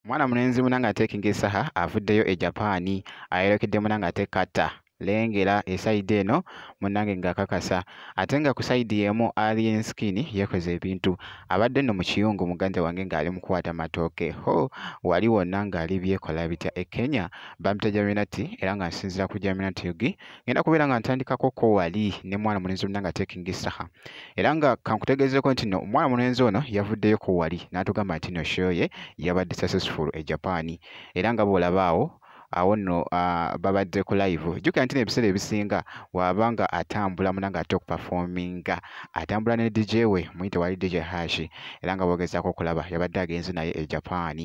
mwana mulenzi muna nga atekinga esaha avuddeyo e japan ayerekedde muna nga ate kata lengera esaidi eno munange ngakakasa ate nga ku saidi emu alien skin yekoze ebintu abadde no mu kiyungu muganda wange ng'ali mukwata matooke ho wali wonna ng'ali byekola bitya e kenya bamita jaminati era nga nsinzira ku jaminati yugi ngenda kubeera nga ntandikako ko wali ne mwana mulenzi olina nga taking saha era nga kankutegeezeko nti no omwana mulenzi ono yavuddeyo ko wali n'atugamba nti no show ye yabadde successful e japan era nga bw'olabaawo awo nno babadde ku live jjukira nti nebiseera ebisinga waaba nga atambula muna nga ate okupafominga atambula ne dj we muyite wali dj hashi era nga bogezaako okulaba yabadde agenze naye e japaani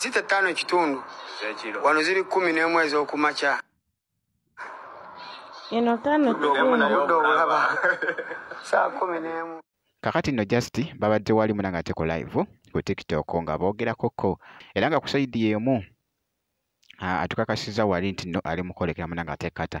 zita ttaano ekitundu wano ziri kkumi n'emu ez'okumakya eno ttaano kitundu obulaba saa kumi n'emu kakati nno just babadde wali muna nga teko live ku tiktok nga boogerako ko era nga ku saidi y'emu atukakasiza wali nti no ali mukwolekera muna nga tekata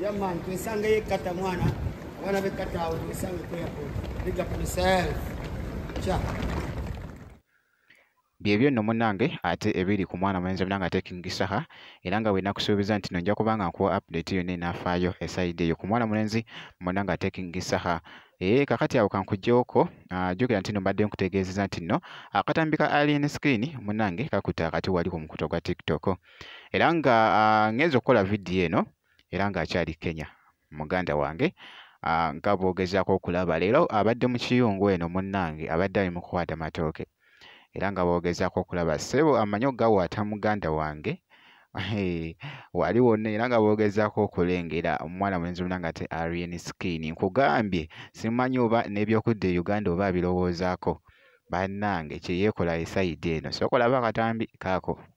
Yeah man, tuisange ye kata mwana. Wana be kata au tuisange kwa hapo. Big up yourself. Cha. byebyo nno munange ate ebiri ku mwana mulenzi munange ate king saha era nga bwenakusuubiza nti nojja kuba nga nkuwa update yonna enaafaayo esaidi eyo ku mwana mulenzi munange ate king saha ee eh, kakati awo kankujjewoko ah, jjukira nti no mbadde nkutegeezeza nti nno akatambi ka alien skin munange kakuta akati wali ku mukuto gwa tiktok era nga ah, ngenza okukola vidiyo eno era nga akyali kenya muganda wange ah, nga bwogezaako okulaba leero abadde mu kiyungu eno munnange abadde ali mu kukwata matooke era nga bwogezaako okulaba sebo amanyi okugawaata muganda wange wali wonna era nga boogezaako okulengera omwana mulenzi wonna nga te arien skin nkugambye simanyi oba n'ebyokudda e uganda oba abirowoozaako bannange kyeyeekola esayidi eno sokolaba akatambi kaako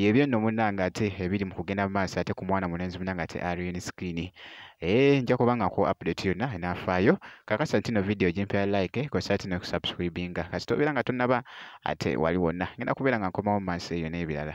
byebyo nno munange ate ebiri mu kugenda mu maaso ate ku mwana mulenzi munange ate arian screen ee eh, nja kuba nga ku update yonna enaafaayo kakasa ntino vidiyo gyempya like kosa tino kusubscribinga kasita obeera nga tonnaba ate wali wonna ngenda kubeera nga nkomawo mu maaso eyo n'ebirala